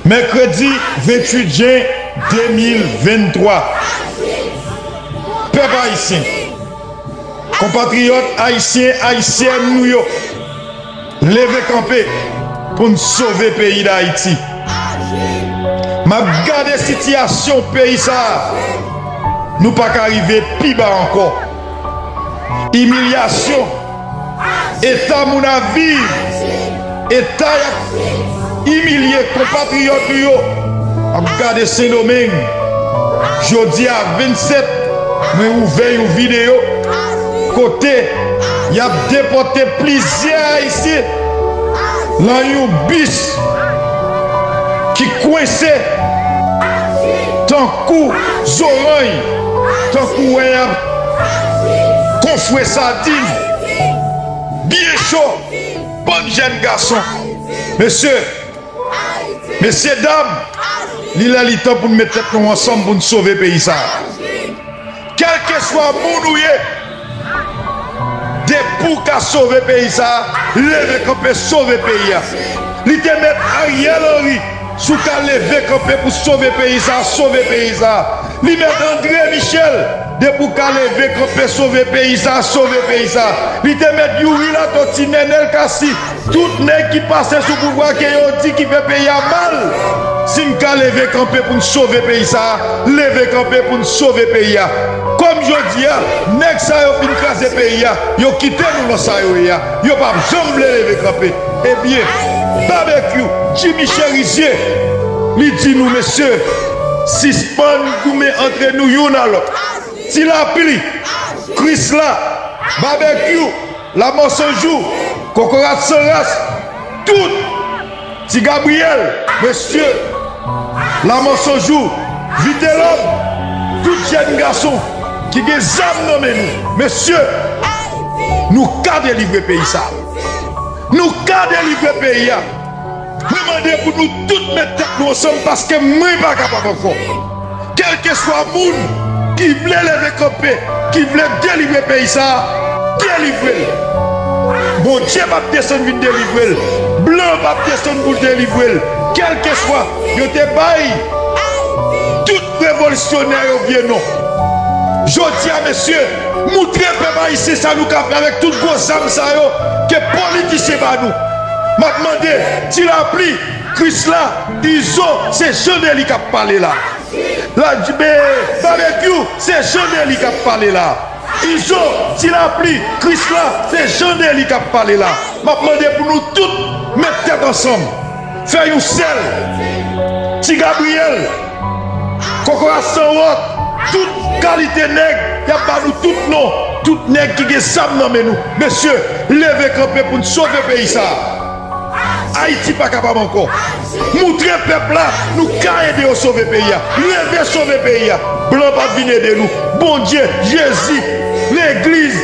Mèkredi 28 jen 2023, pèp ayisyen, konpatriyòt ayisyen, ayisyèn nou yo, leve kanpe pou n sove peyi Dayiti. M ap gade sitiyasyon peyi sa a, nou pa ka rive pi ba ankò. Imilyasyon. Eta moun ap viv, eta y ap imilye konpatriyòt nou yo ap gade Sendomeng. Jodi a 27 mwen ouvè yon videyo kote y ap depòte plizyè Ayisyen lan yon bis ki kwense tankou zorany, tankou wè y ap. Kofre sardine byen cho bann jèn gason mesye mesye dam li lè li tan poun met tèt nou ansanm poun sove peyi sa kelkeswa moun ou ye depi w ka sove peyi sa leve kanpe sove peyi a li te met ariel henry Si w ka leve kanpe pou sove peyi sa a, sove peyi sa a. Li mèt Andre Michel, depi w ka leve kanpe sove peyi sa a, sove peyi sa a. Li te mèt Youri Latòti, Nenel Kasi, tout nèg ki pase sou pouvwa ke yo di ki fè peyi a mal. Si n ka leve kanpe pou n sove peyi sa a, leve kanpe pou n sove peyi a. Kòm jodi a, nèg sa yo fin kraze peyi a, yo kite nou lan sa yo ye a. Yo pap janm vle leve kanpe. Ebyen Babekyou Jimmy Cherizier li di nou mesye sispann goumen antre nou youn a lòt. Ti lapli, krisla, babekyou, lamò san jou, kokorat san ras, tout. Ti Gabriel mesye la mensonj ou vitelom tout jèn gason ki gen zam nan men nou mesye nou ka delivre peyi sa nou ka delivre peyi a mwen mande pou nou tout met tèt nou ansanm paske mwen pa kapab ankò. Kelkeswa moun ki vle leve kanpe, ki vle delivre peyi sa, delivre l. Bondye pap desann vin delivre l, blan pap desann pou l delivre l. Kelkeswa, yo te bay tout revolisyonè yo vye non. Jodi a mesye, moutre pèp ayisyen sa nou ka fè avèk tout gwo zam sa yo ke politisyen ba nou. Map mande, ti lapli, Krisla, izo se jan Nelly kap pale la la jbe babekyou se jan Nelly kap pale la izo ti lapli krisla se jan Nelly kap pale la map mande pou nou tout met tèt ansanm fè yon sèl ti Gabriel kokorat san wont tout kalite nèg yap ba nou tout non tout nèg ki gen zam nan men nou mesye leve kanpe poun sove peyi sa. Ayiti pa kapab ankò. Moutre pèp la nou ka ede yo sove peyi a. Leve sove peyi a. Blan pap vin ede nou. Bondye, Jezi, legliz,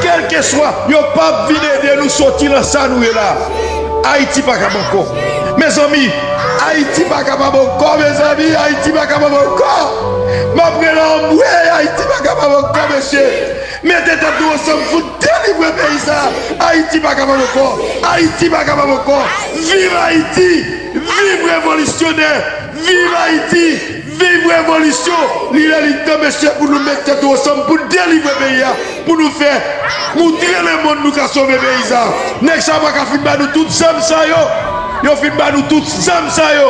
kelkeswa yo pap vin ede nou soti lan sa nou ye la a. Ayiti pa kab ankò. Mezanmi, Ayiti pa kapab ankò mezanmi, Ayiti pa kapab ankò. Map rele anmwey Ayiti pa kapab ankò mesye. Mete tèt nou ansanm pou n delivre peyi sa ayiti pa kapab ankò ayiti pa kapab ankò viv ayiti viv revolisyonè viv ayiti viv revolisyon li lè li tan mesye pou nou met tèt nou ansanm pou n delivre peyi a pou nou fè moutre lemonn nou ka sove peyi sa nèg sa yo pa ka fin ba nou tout zam sa yo yo fin ba nou tout zam sa yo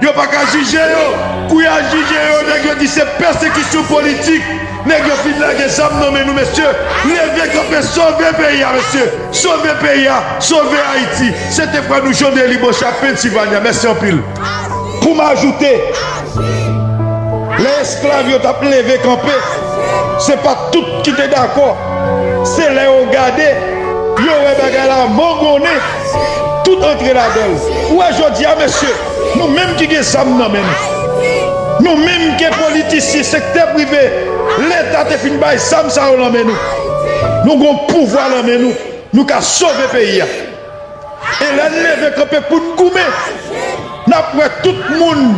yo pa ka jije yo kou ya jije yo nèg yo di se pèsekisyon politik Neg yo fin lage zam nan men nou mesye leve kanpe sove peyi a mesye sove peyi a sove ayiti se te frè nou Jean Delly Bochart Pennsylvania mèsi anpil pou m ajoute lè esklav yo tap leve kanpe se pat tout ki te dakò se lè yo gade yo wè bagay la mangonnen tout antre ladanl ou wè jodia mesye. Nou menm ki gen zam nan men nou, nou menm ke politisyen, sektè prive, leta te fin bay zam sa yo lan men nou, nou gon pouvwa lan men nou, nou ka sove peyi a. E lè n leve kanpe pou n goumen, n ap wè tout moun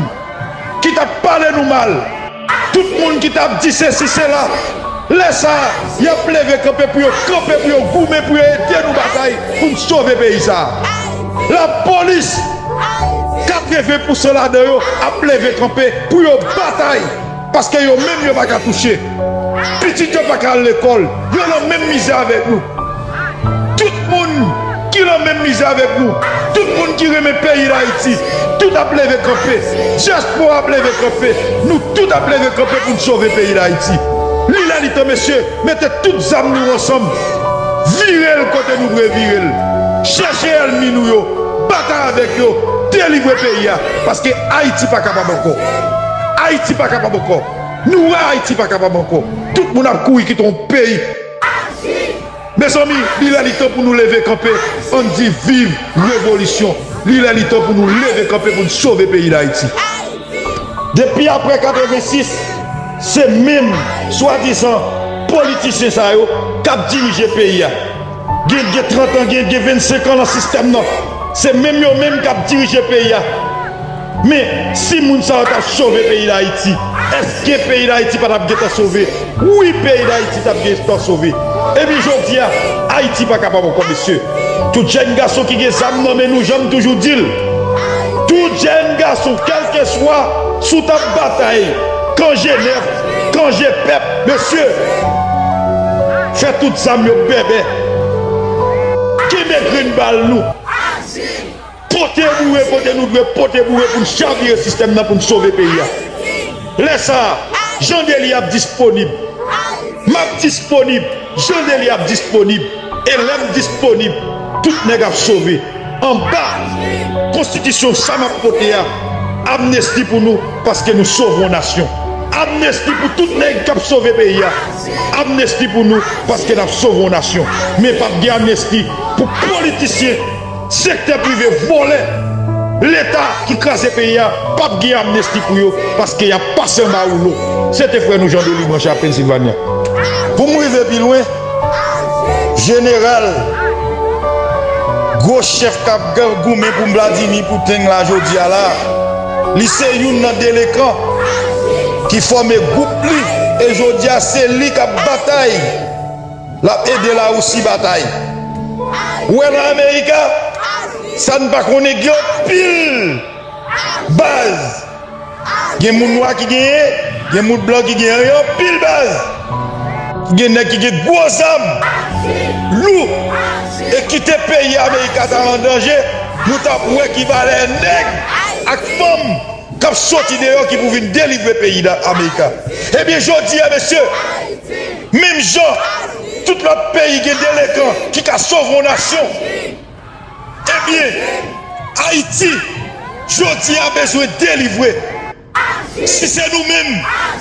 ki t ap pale nou mal. Ak tout moun ki t ap di sesi sela. Lè sa a, y ap leve kanpe pou yo kanpe pou yo goumen pou yo ede nou batay pou n sove peyi sa a. Lapolis, 80 pousan ladan yo ap leve kanpe pou yo batay paske yo menm yo pa ka touche. Pitit yo pa ka al lekòl, yo nan menm mizè avèk nou. Tout moun ki lan menm mizè avèk nou, tout moun ki renmen peyi dayiti, tout ap leve kanpe, diaspora ap leve kanpe, nou tout ap leve kanpe poun sove peyi dayiti. Li lè li tan mesye, mete tout zam nou ansanm, virel kote nou dwe virel, chèche èlmi nou yo, batay avèk yo, delivre peyi a, paske ayiti pa kapab ankò. Ayiti pa kapab ankò. Nou wè ayiti pa kapab ankò. Tout moun ap kouri kite yon peyi. Mezanmi li lè li tan pou nou leve kanpe ann di viv revolisyon li lè li tan pou nou leve kanpe pou n sove peyi dayiti. Depi aprè 86 se menm swadizan politisyen sa yo kap dirije peyi a gen gen 30 an gen gen 25 an nan sistèm nan se menm yo menm kap dirije peyi a. Men, si moun sa yo ta sove peyi Dayiti, èske peyi Dayiti pa t ap gentan sove? Wi, peyi Dayiti t ap gentan sove. Epi jodi a, Ayiti pa kapab ankò, mesye. Tout jèn gason ki gen zam nan men nou, jan m toujou di l, tout jèn gason, kèlkeswa si w t ap batay kan Jenèv, kan Jepep, mesye, fè tout zam yo bèbè, kenbe grenn bal nou. Pote boure kote nou dwe pote boure pou n chavire sistèm nan pou n sove peyi a. Lè sa a, Jan Deli ap disponib. M ap disponib, Jan Deli ap disponib e lè m disponib, tout nèg ap sove. Anba Konstitisyon sa m ap pote a, amnesti pou nou paske nou sovon nasyon. Amnesti pou tout nèg k ap sove peyi a. Amnesti pou nou paske n ap sovon nasyon. Men pap gen amnesti pou politisyen. Sektè prive vòlè leta ki kraze peyi a pap gen amnesti pou yo paske yap pase anba woulo se te frè nou Jean Denis Branchard Pennsylvania pou m rive pi lwen jeneral gwo chèf kap goumen pou Vladimir Putin la jodi a la li se youn nan delekan ki fòme gwoup li e jodi a se li kap batay Lap ede la Russie batay. Ou wè nan America sa n pa konnen gen yon pil baz gen moun nwa ki genyen gen moun blan ki genyen gen yon pil baz gen nèg ki gen gwo zam lou e kite peyi America ta an danje nou tap wè ki valè nèg ak fanm kap soti deyò ki pou vin delivre peyi America ebyen jodi a mesye. Menm jan tout lòt peyi gen delekan ki ka sove yon nasyon, ebyen Ayiti jodi a bezwen delivre. Si se nou menm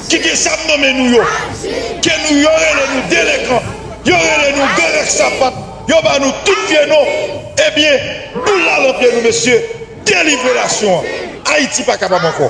ki gen zam nan men nou yo, ke nou yo rele nou delekan, yo rele nou gang ak sapat, yo ba nou tout vye non, ebyen boul la lan pye nou mesye, delivre nasyon an. Ayiti pa kapab ankò.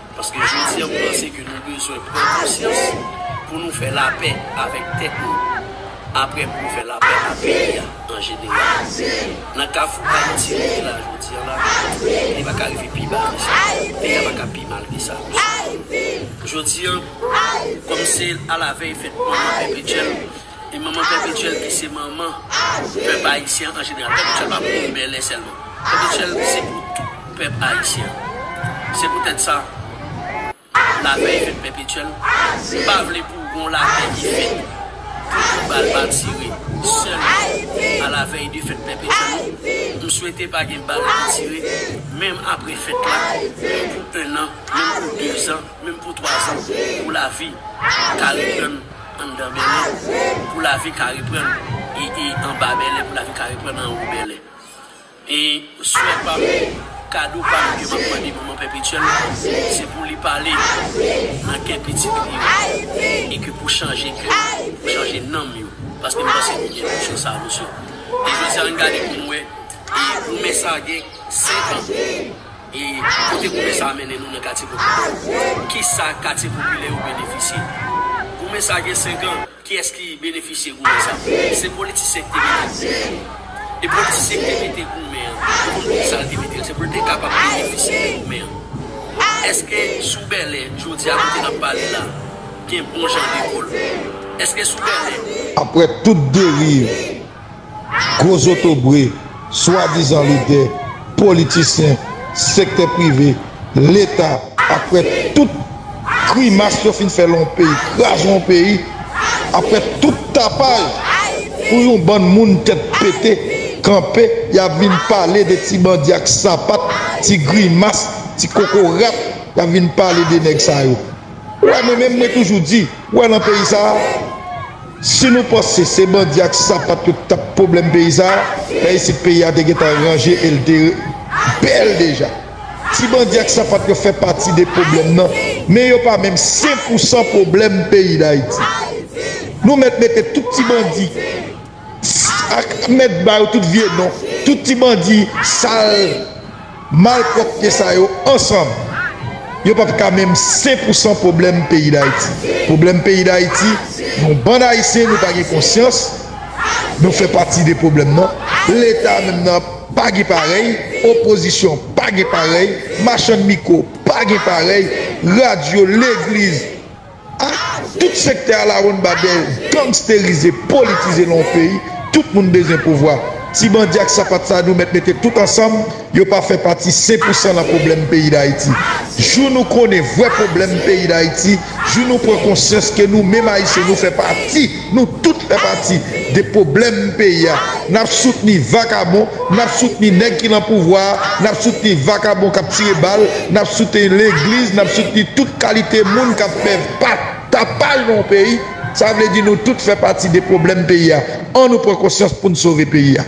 Paske jodi a m panse ke nou bezwen pran konsyans pou nou fè lapè avèk tèt nou, aprè pou nou fè lapè ak peyi a an jeneral. Nan kafou Ayiti nou ye la jodi an la, li pa ka rive pi ba ke sa, peyi a pa ka pi mal ke sa. Jodi an, kòm se alavèy fèt manman Pè Bridjèn, E manman Pèpetyèl ki se manman pèp ayisyen an jeneral. Pèpetyèl pa pou moun Bèlè sèlman. Pèpetyèl se pou tout pèp ayisyen. Se poutèt sa, lapè e fèt Pèpetyèl. Nou pa vle pou gon lapè ki fèt pou kou bal pa tire sèlman alavèy de fèt Pèpetyèl nou. M swete pa gen bal ki tire menm apre fèt la, menm pou ennan, menm pou dezan, menm pou twazan, pou lavi ka reprann. Anndan Bèlè, pou lavi ka reprann e anba Bèlè, pou lavi ka reprann anwo Bèlè. E swè pa m, kado pa m ke m ap mande manman pèpetyèl, se pou li pale nan kè pitit li yo e ke pou chanje kè yo, pou chanje nanm yo, paske m panse nou gen tout chwa sa a nou sou. E jodi a, ann gade pou nou wè, e goumen sa a gen 5 an. E kote goumen sa a mennen nou nan katye Kochonbo a? Ki sa katye popilè yo benefisye? Goumen sa a gen 5 an, kiyès ki benefisye goumen sa a? Se politisyen ki te mete goumen an. E politisyen ki te mete goumen an, nou konn pou ki sa l te mete l, se pou l te kapab benefisye de goumen an. Èske sou Bèlè, jodi a kote n ap pale la, gen bon jan lekòl? Èske sou Bèlè. Aprè tout deriv gwo zotobre, swadizan lidè, politisyen, sektè prive, leta, aprè tout grimas yo fin fè lan yon peyi, kraze yon peyi, aprè tout tapaj pou yon bann moun tèt pete kanpe y ap vin pale de ti bandi ak sapat, ti grimas, ti kokorat, y ap vin pale de nèg sa yo. Ou wè men menm mwen toujou di, ou wè lan peyi sa a, Si nou panse se bandi ak sapat yo ki tap pwoblèm peyi sa, fè isit peyi a te gentan ranje el te bèl deja. Ti bandi ak sapat yo fè pati de pwoblèm nan, men yo pa menm 5 pou 100 pwoblèm peyi dayiti. Nou mèt mete tout ti bandi ak mèt ba yo tout vye non, tout ti bandi sal. Malpropte sa yo ansanm yo pap ka menm 5 pou 100 pwoblèm peyi dayiti. Pwoblèm peyi dayiti yon bann ayisyen nou pa gen konsyans nou fè pati de pwoblèm nan. Leta menm nan pa gen parèy, opozisyon pa gen parèy, machann mikwo pa gen parèy, radyo, legliz. Ah! Tout sektè alawonnbadè yo gangsterize, politize lan yon peyi, tout moun bezwen pouvwa. Ti bandi ak sapat sa nou mèt mete tout ansanm, yo pa fè pati sen pou san lan pwoblèm peyi Dayiti. Jou nou konnen vrè pwoblèm peyi Dayiti, jou nou pran konsyans ke nou menm Ayisyen nou fè pati. Nou tout fè pati de pwoblèm peyi a. Nap soutni vakabon, nap soutni nèg ki lan pouvwa a, nap soutni vakabon kap tire bal, nap soutni legliz, nap soutni tout kalite moun kap fè pa tapaj lan yon peyi. Sa vle di nou tout fè pati de pwoblèm peyi a. An nou pran konsyans poun sove peyi a.